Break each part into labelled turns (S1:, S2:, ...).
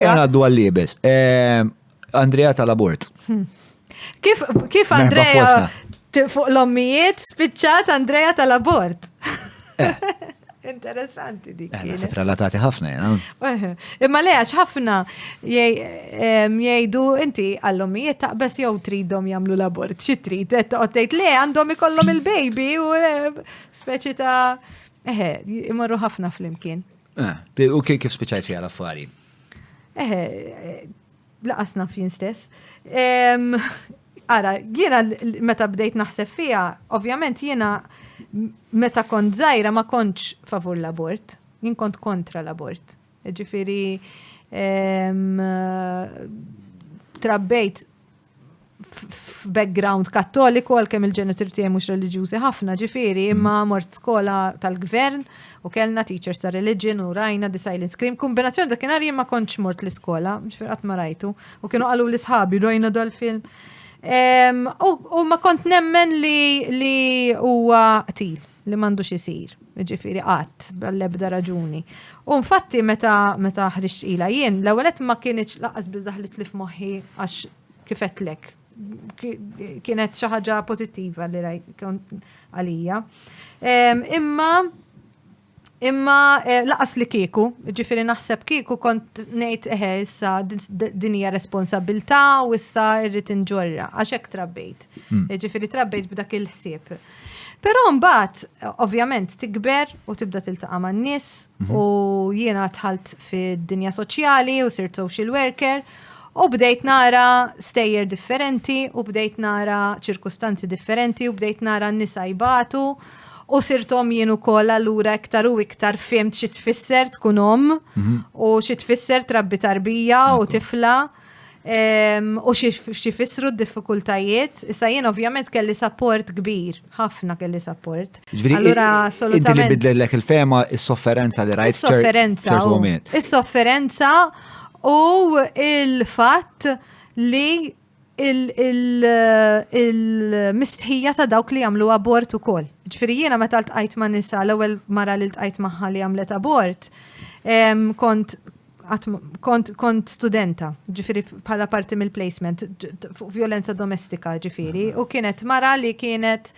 S1: Ejja ngħaddu għal-liebes. Ehm, Andrea tal-abort. Hmm. Kif,
S2: kif Andrea fuq l-ommijiet spiċċat Andrea tal-abort? Eh. Interessanti dik. Eh, Nasib relatati ħafna
S1: jena. Eh. Imma le għax
S2: ħafna jgħidu inti għall-ommijiet taqbess jew tridhom jagħmlu l-abort. Xi trid qed tgħid le għandhom ikollhom il-baby u speċi ta' eħe, imorru ħafna flimkien. Ah, u kif
S1: spiċajt fija l-affari? Eħe,
S2: laqas naf jien stess. Ara, jiena meta bdejt naħseb fija, ovvjament jiena meta kont zaħira ma kontx favur l-abort, jien kont kontra l-abort. Ġifiri, trabbejt f'background kattoliku għal kemm il-ġenitur tiegħi mhux reliġjużi ħafna ġifieri, mm. imma mort skola tal-gvern u kellna teachers ta' religion u rajna the silent scream. Kombinazzjoni dak kien ma kontx mort l-iskola, ġifieri qatt ma rajtu. U kienu qalu l-isħabi rajna dal-film. U ma kont nemmen li huwa qtil. li m'għandux isir, jiġifieri qatt, bl-ebda raġuni. U infatti meta meta ħriġt ila jien, l-ewwel qed ma kienx laqas biss daħlitli f'moħħi għax kifetlek kienet xi ħaġa pożittiva li rajt għalija. Imma imma eh, laqas li kieku, ġifieri naħseb kieku kont ngħid eħe eh, issa din hija responsabilità u issa rrid inġorra għax hekk trabbejt. Hmm. Ġifieri trabbejt b'dak il-ħsieb. Però mbagħad ovvjament tikber u tibda tiltaqa' man-nies mhm. u jiena dħalt fid-dinja soċjali u sirt social worker u bdejt nara stejjer differenti u bdejt nara ċirkustanzi differenti u bdejt nara n-nisa jbatu u sirtom jien ukoll allura iktar u iktar fimt xi tfisser tkun om mhm. u xi tfisser trabbi tarbija u tifla. u xi fissru d-diffikultajiet. Issa jien ovvjament kelli sapport kbir, ħafna kelli sapport. Allura
S1: assolutament. Inti li il-fema is-sofferenza li rajt. Is-sofferenza. Is-sofferenza
S2: u il-fatt li il-mistħija ta' dawk li jagħmlu abort ukoll. Ġifieri jiena meta ltqajt ma' nisa l-ewwel mara li ltqajt magħha li għamlet abort, kont għat kont, kont studenta, ġifiri bħala parti mill-placement, fuq violenza domestika ġifiri, u kienet mara li kienet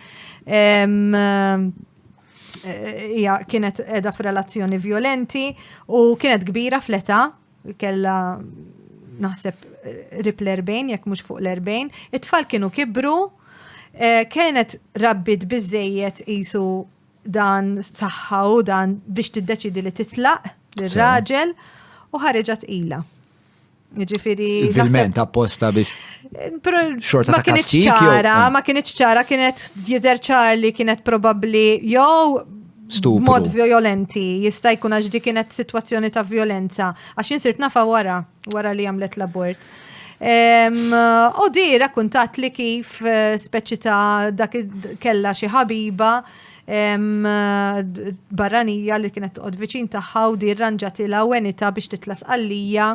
S2: hija kienet edha f'relazzjoni violenti u kienet kbira fl-età, kella naħseb rip l-40, jekk mhux fuq l-40, it-tfal kienu kibru, eh, kienet rabbit biżejjed isu dan saħħaw dan biex tiddeċidi li titlaq l-raġel u ħareġa tqila. Ġifiri. Vilment
S1: apposta biex. Xorta ma kienet ċara, ah. ma kienet
S2: ċara, kienet jider ċar li kienet probabli jew mod violenti, jista' jkun għax di kienet situazzjoni ta' violenza, għax jinsirt nafa wara, wara li għamlet l-abort. U di rakkuntat li kif eh, speċi ta' dak kella xi ħabiba barranija li kienet toqgħod viċin tagħha u di rranġatilha u għenita biex titlas għalija.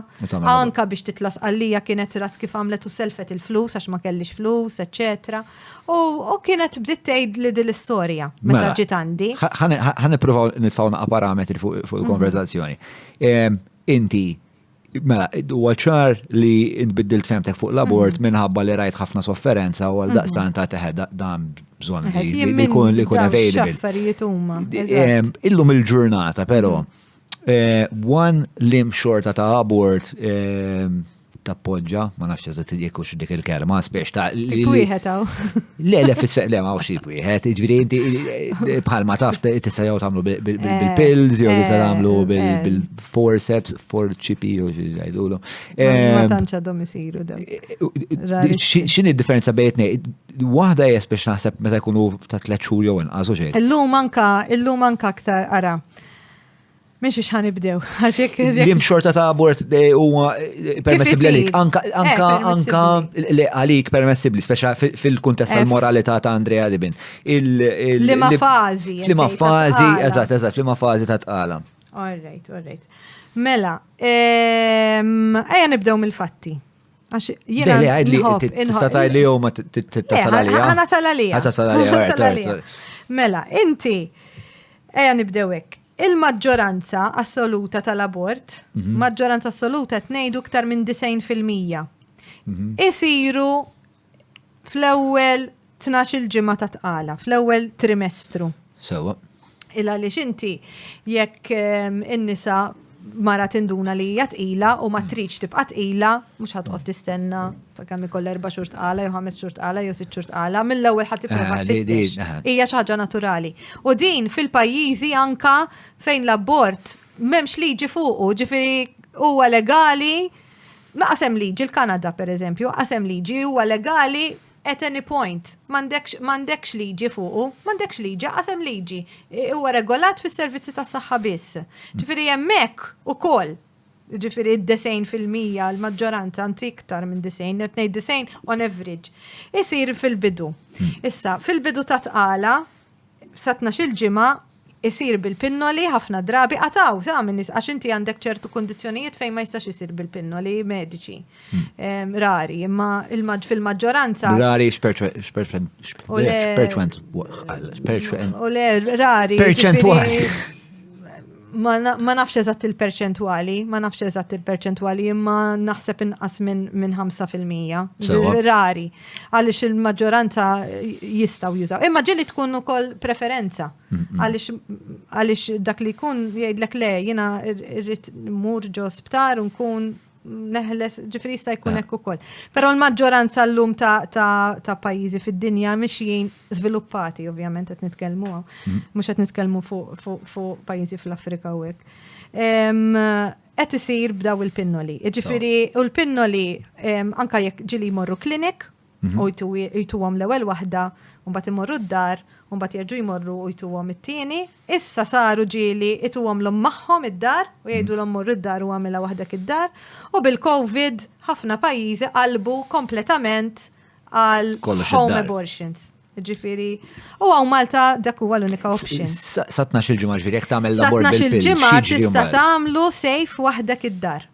S2: Anka biex titlas għalija kienet rat kif għamlet u selfet il-flus għax ma kellix flus, eċċetera. U kienet bdiet tgħid li din l-istorja meta mela, ġiet għandi. Ħa nippruvaw
S1: nitfgħu naqa' parametri fuq il-konverzazzjoni. Mhm. Inti Mela, huwa ċar li nbiddilt femtek fuq l-abort mhm. minħabba li rajt ħafna sofferenza u għal mhm. daqstan ta' teħed dan bżon li kun li kun available. Illum il-ġurnata, pero, eh, one lim xorta ta' abort eh, tappoġġa, ma nafx eżat jekk hux dik il-kelma, spiex ta' li. Wieħed hawn.
S2: Le le fis
S1: le ma xi wieħed, jiġri inti bħalma taf tista' jew tagħmlu bil-pills jew tista' tagħmlu bil forceps, forċipi, u xieġajdulu. Ma eh, tanċa
S2: domisiru da. Eh, eh,
S1: Xini differenza bejtni? Wahda jes biex naħseb meta jkunu ta' tlet xhur jew inqas u xejn. Illum anka, illum
S2: anka aktar ara. Miex ix ħanibdew, għaxek. Lim xorta ta'
S1: abort u permessibli għalik. Anka, anka, anka li għalik permessibli, speċa fil-kuntest tal-moralità ta' Andrea Dibin. Lima
S2: fazi. Lima fazi,
S1: eżat, eżat, lima fazi ta' tqala. All right, all right.
S2: Mela, ehm, ejja nibdew mill-fatti. Għax jiena
S1: li għadli, tista' tajli jew ma tittasal għalija. Għana sal għalija. Għata sal għalija.
S2: Mela,
S1: inti,
S2: ejja nibdew hekk. Il-maġġoranza assoluta tal-abort, mhm. maġġoranza assoluta tnejdu iktar minn 90%. Mhm. Isiru fl-ewwel tnax il-ġimgħa ta' tqala, fl-ewwel trimestru. Sewa.
S1: Il għaliex
S2: inti jekk ehm, in-nisa mara tinduna li hija tqila u ma mm. tridx tibqa' tqila, mhux ħadd qod tistenna ta' kemm ikoll erba' xhur tqala jew ħames xhur tqala jew sitt xhur tqala, mill-ewwel ħadd tipprova ah, tfittex. Ah. Hija xi ħaġa naturali. U din fil-pajjiżi anka fejn l-abort m'hemmx liġi fuqu, ġifieri huwa legali Lanqas hemm liġi, l-Kanada pereżempju, lanqas hemm liġi, huwa legali at any point. M'għandekx liġi fuqu, m'għandekx liġi, lanqas hemm liġi. Huwa regolat fis-servizzi tas-saħħa biss. Ġifieri hemmhekk ukoll, jiġifieri d-disgħin fil-mija, l-maġġoranza, anzi iktar minn disgħin, qed ngħid disgħin on average, isir fil-bidu. Issa, fil-bidu ta' tqala, sa tnax-il ġimgħa jsir bil-pinnoli, ħafna drabi qatgħu sa minn nies għax inti għandek ċertu kundizzjonijiet fejn ma jistax isir bil-pinnoli mediċi. Hmm. Rari, imma fil-maġġoranza. Rari x'perċentwal.
S1: U le rari. Perċentwal.
S2: Ma nafx eżatt il-perċentwali, ma nafx eżatt il-perċentwali, imma naħseb inqas minn 5%. Rari, għaliex il-maġġoranza jistaw jużaw. Imma ġeli tkun ukoll preferenza, għaliex dak li jkun jgħidlek le, jina rrit mur ġo sptar unkun neħles, ġifiri jista' jkun hekk ukoll. Però l-maġġoranza llum ta', ta, ta pajjiżi fid-dinja mixjin żviluppati, ovvjament qed nitkellmu hawn. Mm. Mhux qed nitkellmu fuq fu, fu pajjiżi fl-Afrika u hekk. Qed isir b'daw il-pinnoli. Ġifiri, u l-pinnoli anka jekk ġili jmorru klinik Mhm. u jtuhom l-ewwel waħda, u mbagħad imorru d-dar, u mbagħad jerġgħu jmorru u jtuhom it-tieni. Issa saru ġieli jtuhom l magħhom id-dar u jgħidu l morru d-dar u għamilha waħdek id-dar. U bil-COVID ħafna pajjiżi qalbu kompletament għal home abortions. Ġifiri, u għaw Malta dak huwa l-unika option. Satna xil-ġimgħa
S1: ġifieri jekk tagħmel l-abort bil-ġimgħa tista'
S2: tagħmlu safe waħdek id-dar.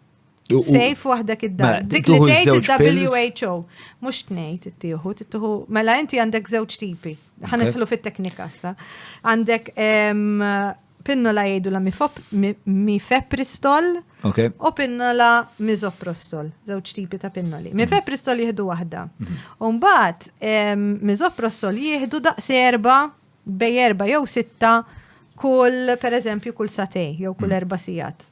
S2: Sejf waħdek id-dar. Mela, Dik li tuħu tgħid żewġ pills. il-WHO. Mhux tnejt ittieħu, tittieħu mela inti għandek żewġ tipi. Ħa nidħlu fit-teknika sa. Għandek em, pinnola jgħidu la mifop- mi- mifepristol Ok. u pinnola mizoprostol, żewġ tipi ta' pinnoli. Mifepristol jieħdu waħda. U mbagħad em, mizoprostol jieħdu daqs erba' bej erba jew sitta kull, per eżempju, kull satej, jew kull mm. erba sijat,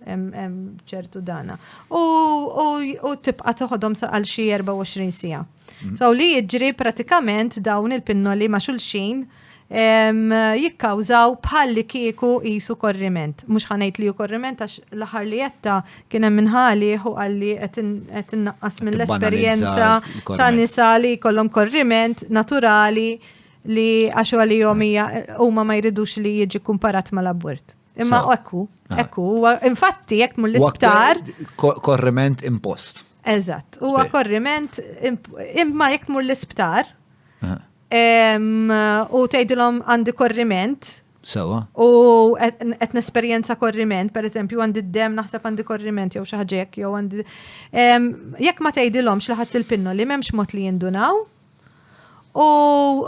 S2: ċertu dana. U tibqa toħodhom għal xi 24 sija. Mm. So li jiġri pratikament dawn il-pinnoli ma' xulxin jikkawżaw bħalli kieku jisu korriment. Mux ħanajt li ju korriment għax laħar li jetta kiena minnħali u għalli għet naqqas mill-esperienza ta' nisa li kollom korriment naturali li għax għalihom hija huma ma jridux li jiġi kumparat mal-abort. Imma So. ekku, Ah. ekku, huwa infatti jekk mur l-isptar, Ko- Korriment
S1: impost. eżatt, huwa Spej.
S2: korriment imp- imma jekk mur l-isptar Aha. em, u tgħidilhom għandi korriment Sewa. u
S1: qed
S2: qed nesperjenza korriment, per eżempju, għandi d-dem naħseb għandi korriment jew xi ħaġa hekk jew għandi em, jekk ma tgħidilhomx li ħadd il-pinno li m'hemmx mod li jindunaw, U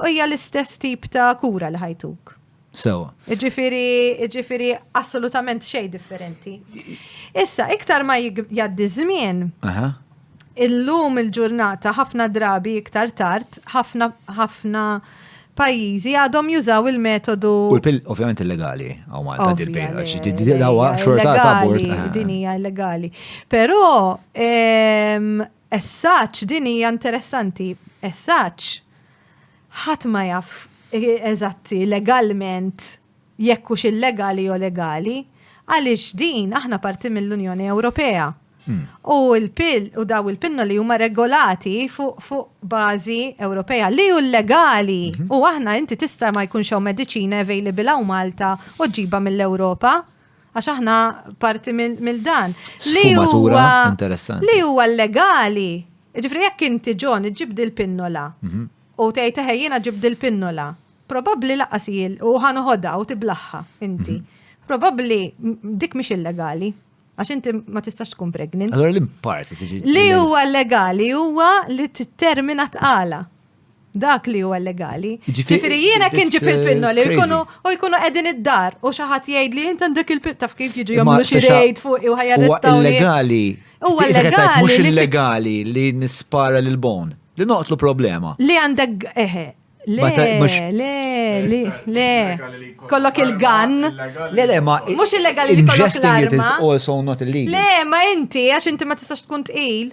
S2: hija l-istess tip ta' kura li ħajtuk. Sewa.
S1: Iġifiri,
S2: iġifiri assolutament xej differenti. Issa, iktar ma jgħaddi żmien, illum il-ġurnata ħafna drabi iktar tard, ħafna ħafna pajjiżi għadhom jużaw il-metodu. U l-pil, ovvjament, illegali,
S1: għaw Malta dil-pil, għax id-dilawa xorta ta' bord. Din hija illegali.
S2: Però, ehm, Esaċ, din hija interessanti. Esaċ, ħadd ma jaf eżatti legalment jekk hux illegali jew legali, għaliex din aħna parti mill-Unjoni Ewropea. U l-pill u daw il-pinnoli huma regolati fuq bażi Ewropea li hu legali u aħna inti tista' ma jkunx hawn mediċina available hawn Malta u ġġibha mill-Ewropa. Għax aħna parti mill-dan. Li huwa
S1: interessanti. Li huwa legali.
S2: Ġifri jekk inti ġon iġib dil-pinnola mhm. u tgħid eħe jiena ġib dil-pinnola, probabbli laqas jil u ħanoħodha u tiblaħħa inti. Mhm. Probabbli dik mhix illegali. Għax inti ma tistax tkun pregnant. Allora l-imparti tiġi. Li
S1: huwa
S2: legali huwa
S1: li
S2: t-termina tqala. dak li huwa legali. Ġifieri jiena
S1: kien ġib
S2: il-pinnoli eh, jkunu u jkunu qegħdin id-dar u xi ħadd jgħid li int għandek il-pin taf kif jiġu jagħmlu xi rejd fuq
S1: u
S2: ħajjarrestaw.
S1: Huwa
S2: illegali.
S1: Huwa illegali.
S2: Mhux
S1: illegali
S2: li
S1: nispara lil bon. Li noqtlu problema. Li għandek
S2: eħe. Le, le,
S1: le, le,
S2: kollok il-gan. Le, le, ma.
S1: Mux illegali li
S2: kollok l-arma. also
S1: not illegal.
S2: Le,
S1: ma inti,
S2: għax inti ma tistax tkun tqil.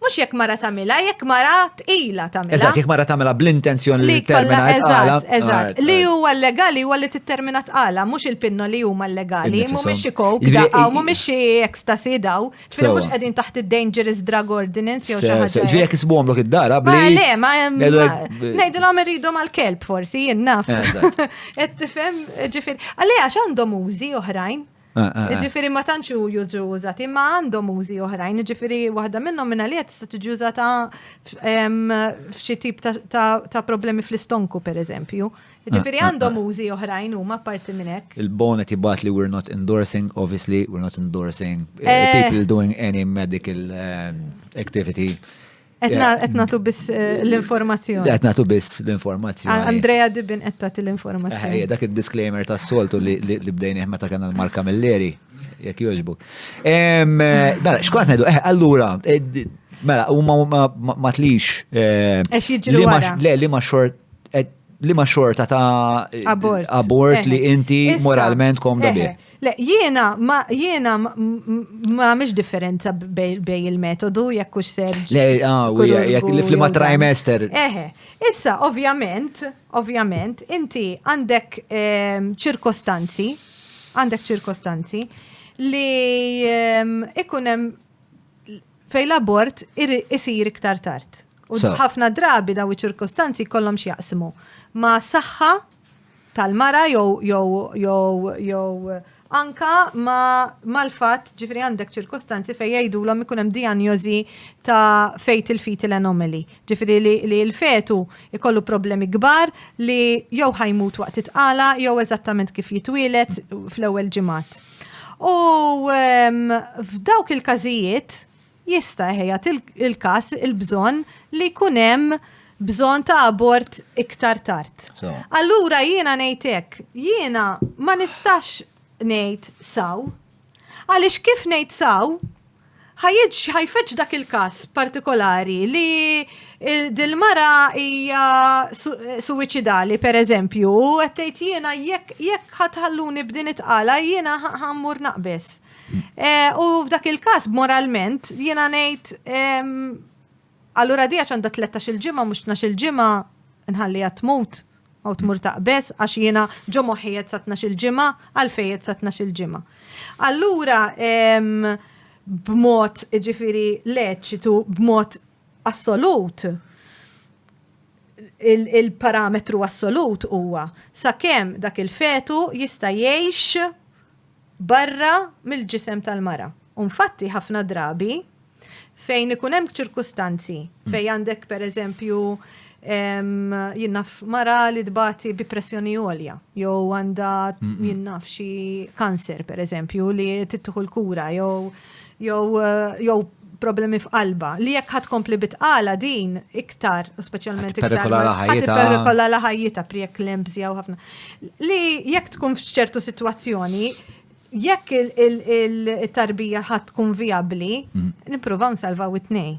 S2: Mhux jekk mara tagħmilha, jekk mara tqila tagħmilha. Eżatt, jekk mara tagħmilha
S1: bl-intenzjoni li termina tqala. Eżatt, li huwa
S2: legali huwa li tittermina tqala, mhux il-pinno li huma legali, mhumiex xi kok, daqqa, mhumiex xi ecstasy daw. Ġifieri mhux qegħdin taħt id-dangerous drug ordinance jew xi ħaġa. Ġifieri jekk isbuhom lok id-dara
S1: bli. Ma le, ma
S2: ngħidilhom irridhom għall-kelb forsi, jien naf. Qed tifhem ġifieri. Għalli għax għandhom użi oħrajn. Ġifiri ma tantx jużu użati, imma għandhom użi oħrajn, ġifiri waħda minnhom minna li tista' tiġi użata f'xi tip ta' problemi fl-istonku pereżempju. Ġifiri għandhom użi oħrajn huma parti minn hekk. Il-bon qed jibgħat li we're
S1: not endorsing, obviously we're not endorsing people doing any medical activity.
S2: Qed nagħtu biss eh, l-informazzjoni. Qed nagħtu biss
S1: l-informazzjoni. Andrea Dibin qed
S2: tagħti l-informazzjoni. Eh, dak id-disclaimer
S1: tas-soltu li bdejnieh meta kena l-marka mill-leri, jekk jogħġbu. Eh, mela, xkont ngħidu, allura, mela, huma ma tlix. Għax jiġri
S2: wara. Le, li ma xort
S1: li ma xorta ta' abort li inti moralment komda bih. Le, jiena
S2: ma jiena ma nagħmilx differenza bej il-metodu jekk hux ser. Le, ah,
S1: jekk li flima trimester. Eħe, issa
S2: ovvjament, ovvjament, inti għandek ehm, ċirkostanzi, għandek ċirkostanzi li ehm, ikun hemm fej l-abort isir iktar tard. U ħafna drabi daw iċ-ċirkostanzi kollhom x'jaqsmu ma' saħħa tal-mara jew jew jew jew anka ma mal-fatt ġifri għandek ċirkostanzi fejn jgħidulhom ikun hemm dijanjożi ta' fetal fetal anomaly. Ġifri li, li l-fetu ikollu problemi kbar li jew ħa jmut waqt it-tqala jew eżattament kif jitwieled fl-ewwel ġimgħat. U f'dawk il-każijiet, jista' jħejjat il-każ il-bżonn li jkun hemm bżonn ta' abort iktar tard. Allura jiena ngħid hekk, jiena ma nistax ngħid saw. Għaliex kif ngħid saw, ħajfeġġ dak il-każ partikolari li dil-mara hija suwiċidali pereżempju, qed tgħid jiena jekk ħatħalluni b'din it-tqala jiena ħammur naqbeż. Eh, u f'dak il-każ moralment jiena ngħid allura dija għandha 13 il-ġimgħa mhux 12 il-ġimgħa nħalli tmut għaw tmur taqbes għax jiena ġo moħħijiet sa 12 il-ġimgħa għalfejjed sa 12 il-ġimgħa. Allura b'mod ġifiri leċitu b'mod assolut il-parametru assolut huwa sakemm dak il-fetu jista' jgħix barra mill-ġisem tal-mara. U nfatti ħafna drabi fejn ikun hemm ċirkustanzi fejn għandek pereżempju jinnaf mara li tbati bi pressjoni għolja, jew għandha jinnaf xi kanser pereżempju li tittuħu l-kura jew jew jew problemi f'qalba li jekk ħad kompli bitqala din iktar, speċjalment iktar. Perikola la ħajjita priek l-embżja u ħafna. Li jekk tkun f'ċertu situazzjoni, jekk il-tarbija ħad tkun viabli, mm. nippruvaw nsalvaw it-tnej.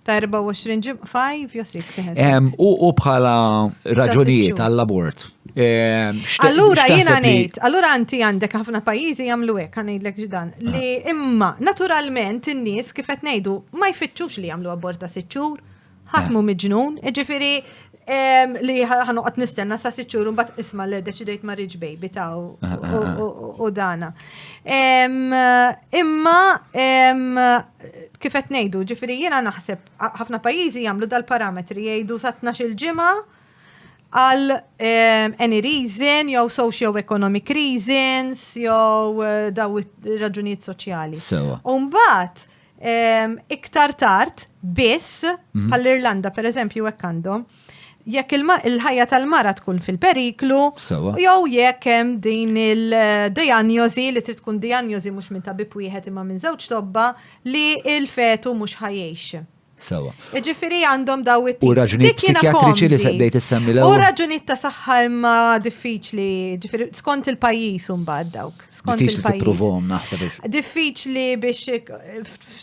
S1: Ta'
S2: 24 ġim, 5 jew 6 ehm, U bħala
S1: raġunijiet għall-abort. Ehm,
S2: allura jiena ngħid, allura anti għandek ħafna pajjiżi jagħmlu hekk ngħidlek ġdan li ah. imma naturalment in-nies kif qed ngħidu ma jfittxux li jagħmlu abort ta' sitt xhur, ħatmu eh. miġnun, ġifieri ehm, li ħanuqat nistenna sa' siċċur un bat isma li deċidejt ma' rich baby ta' u eh, eh, dana. Imma Kif qed ngħidu, jiġifieri jiena naħseb ħafna pajjiżi jagħmlu dal-parametri jgħidu sa tnax-il ġimgħa għal ehm, any reason, jew socio-economic reasons, jew eh, daw raġunijiet soċjali. Sewa. Umbat, ehm, iktar tard, biss, mhm. bħall-Irlanda, per eżempju, hekk għandhom, jekk il-ħajja tal-mara tkun fil-periklu, jew jekk hemm din il-dijanjosi li trid tkun dijanjosi mhux minn tabib wieħed imma minn żewġ tobba li il-fetu mhux ħajjejx. Sawa. Ġifiri għandhom daw it U raġunijiet psikjatriċi
S1: li sebdejt issemmi l U raġunijiet ta' saħħa
S2: imma diffiċli, ġifiri skont il-pajjiż imbagħad dawk. skont il-pajjiż. Diffiċli biex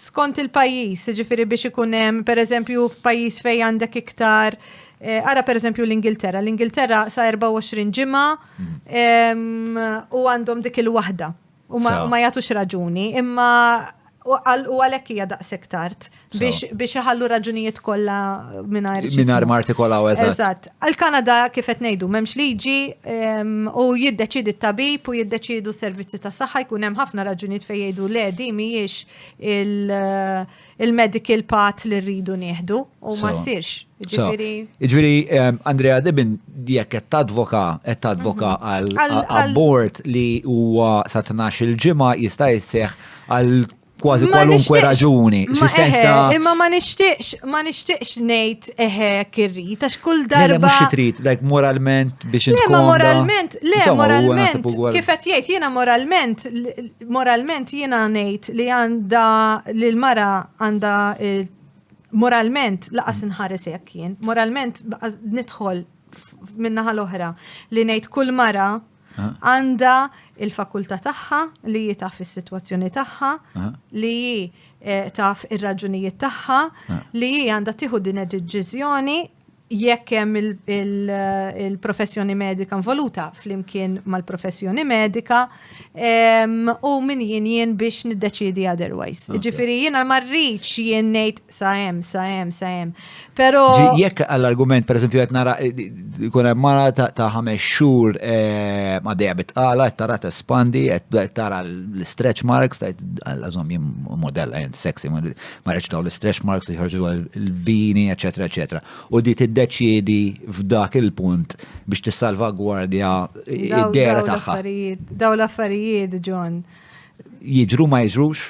S2: skont il-pajjiż, ġifiri biex ikun hemm pereżempju f'pajjiż fejn għandek iktar eh, Ara per eżempju l-Ingilterra. L-Ingilterra sa 24 ġimgħa mhm. u għandhom dik il-waħda. U ma jagħtux raġuni, imma U għal- u għalhekk hija daqshekk tard biex biex iħallu raġunijiet kollha mingħajr xi Minar ismu. martikolaw
S1: eżatt. Eżatt. Għal-Kanada
S2: kif qed ngħidu m'hemmx liġi em, u jiddeċiedi t-tabib u jiddeċiedu s-servizzi ta' saħħa jkun hemm ħafna raġunijiet fejn jgħidu le di mhijiex il- il-medical path li rridu nieħdu u ma So. ssirx. So, Ġifieri Ġviri,
S1: em, Andrea Dibin, jekk qed tadvoka, qed tadvoka għal Mhm. Għal- għal- abbord li huwa sa 12 il-ġimgħa jista' jisseħ għal kważi kwalunkwe raġuni. Imma
S2: ma nixtieqx, ma nixtieqx ngħid eħe kirri, ta' xkull darba. Le, mhux trid, like
S1: moralment biex intkun. Le, ma moralment, le,
S2: moralment. Kif qed jgħid jiena moralment, moralment jiena ngħid li għandha li l-mara għandha moralment laqas inħares hekk jien. Moralment nidħol minnaħa l-oħra li ngħid kull mara għandha il-fakultà tagħha li hi taf is-sitwazzjoni tagħha, li hi eh, taf ir-raġunijiet tagħha, li hi għandha tieħu din id-deċiżjoni jekk hemm eh, il-professjoni medika involuta flimkien mal-professjoni medika u min jien jien biex niddeċidi otherwise. Ġifieri jiena ma rridx jien ngħid sa hemm, sa hemm, sa hemm. Però jekk għall-argument
S1: pereżempju qed nara eh, jkun hemm mara ta' ħames xhur eh, ma dejja bitqala qed tara tespandi qed tara l-stretch marks ta' għażhom jien modella jien sexy ma rridx dawn l-stretch marks jħorġu l-vini eċetera eċetera. U di tiddeċiedi f'dak il-punt biex tissalvagwardja id-dera tagħha. Daw
S2: l-affarijiet, John. Jiġru
S1: ma jiġrux?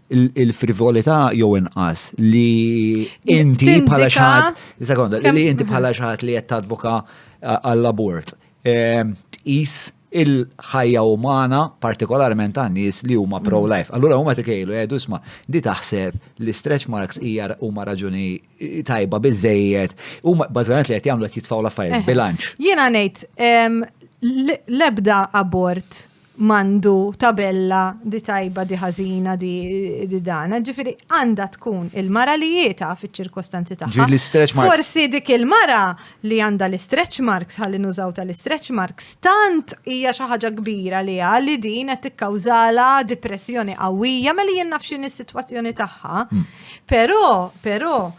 S1: il-frivolità jew inqas li inti bħala xaħat, sekonda, li inti bħala xaħat li qed tadvoka għall-abort. Ehm, tqis il-ħajja umana partikolarment għan nies li huma mm. pro-life. Allura huma tikejlu jgħidu eh, isma' di taħseb li stretch marks hija huma raġuni tajba biżejjed. Huma bażikament li qed jagħmlu qed jitfgħu l-affarijiet eh. bilanċ. Jiena ngħid
S2: ehm, l-ebda abort mandu tabella di tajba di ħażina di, di dana, ġifiri għanda tkun il-mara li jieta fiċ-ċirkostanzi tagħha. Forsi dik il-mara li għanda l-stretch marks ħalli nużaw tal-stretch marks tant hija xi ħaġa kbira li li din qed tikkawżala depressjoni qawwija mela jien naf x'in is-sitwazzjoni tagħha. Hmm. Però, però,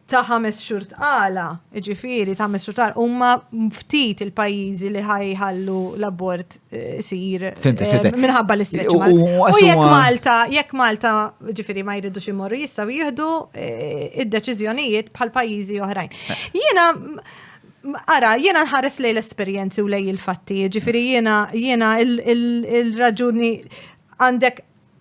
S2: ta' ħames xhur tqala, jiġifieri ta' ħames xhur tqala, huma ftit il-pajjiżi li ħaj ħallu l-abort eh, isir eh, minħabba l-istretch marks. U jekk Malta, jekk Malta, jiġifieri ma jridux imorru jistgħu jieħdu eh, id-deċiżjonijiet bħal pajjiżi oħrajn. Jiena Ara, jiena nħares lej l-esperjenzi u lej il-fatti, ġifiri jiena jiena il-raġuni għandek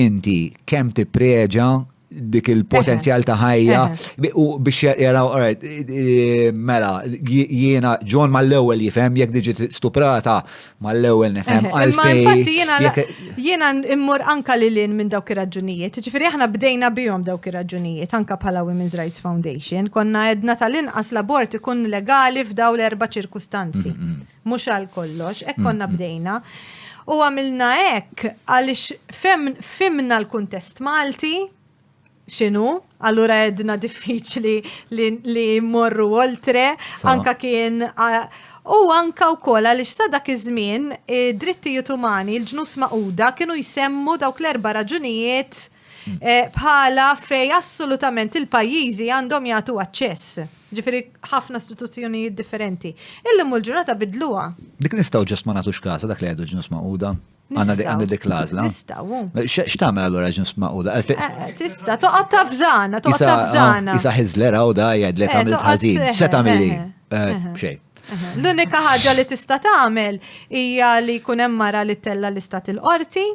S1: inti kemm tippreġa dik il-potenzjal ta' ħajja u biex jaraw mela jiena John mal-ewwel jifhem jekk diġi stuprata mal-ewwel nifhem għalfejn. Infatti jiena
S2: jiena immur anka li lin minn dawk ir-raġunijiet. Ġifieri aħna bdejna bihom dawk ir-raġunijiet anka bħala Women's Rights Foundation konna edna tal-inqas l-abort ikun legali f'daw l-erba' ċirkustanzi. mhux għal kollox, hekk konna bdejna. U għamilna hekk għaliex fimna l-kuntest Malti, xinu, allura edna diffiċli li morru oltre, anka kien u anka u kola li xsa dak iż-żmien drittijiet umani l-ġnus maquda kienu jsemmu dawk l-erba raġunijiet Eh, bħala fej assolutament il-pajjiżi għandhom jagħtu aċċess. Ġifieri ħafna istituzzjonijiet differenti. Illum l-ġurnata bidluha. Dik nistgħu ġest ma
S1: nagħtux kasa dak li għedu ġnus maquda. Għanna dik għanna dik lażla. Nistgħu. Eh,
S2: x'tagħmel allura
S1: ġnus maquda? Eh, tista' toqgħod
S2: tafżana, toqgħod tafżana. Isa Hizzler hawn da
S1: jgħidlek għamilt ħażin. X'se tagħmilli? Xejn. L-unika
S2: ħaġa li tista' tagħmel hija li jkun hemm mara li tella l-istat il-qorti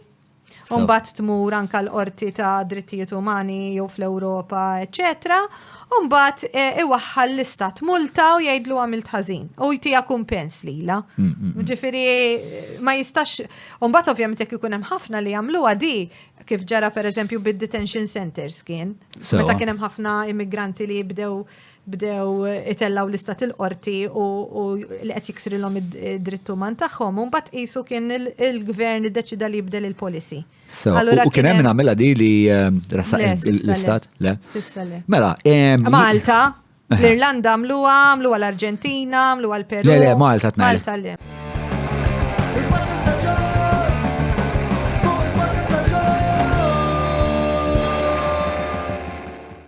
S2: Umbat tmur anka l-qorti ta' drittijiet umani jew fl-Ewropa, eccetera. Umbat eh, iwaħħal l-istat multa u jgħidlu għamilt ħażin. U jtija kumpens lila. Mm, mm, mm. Ġifiri, ma jistax. Umbat ovvjament jekk ikun hemm ħafna li jagħmlu għadi, kif ġara per eżempju bid-detention centers kien. Meta kien hemm ħafna immigranti li jibdew bdew itellgħu lista tal-qorti u li qed jiksrilhom id-dritt uman tagħhom, u mbagħad qisu kien il-gvern iddeċida li jibdel il-policy. U kien hemm
S1: nagħmilha di li ehm, rasaq l-istat? Le. Sissa le. Mela,
S2: ehm,
S1: Malta, l-Irlanda
S2: għamluha, għamluha
S1: l-Arġentina,
S2: għamluha l-Peru. Le, le,
S1: Malta tnajn.
S2: Malta le.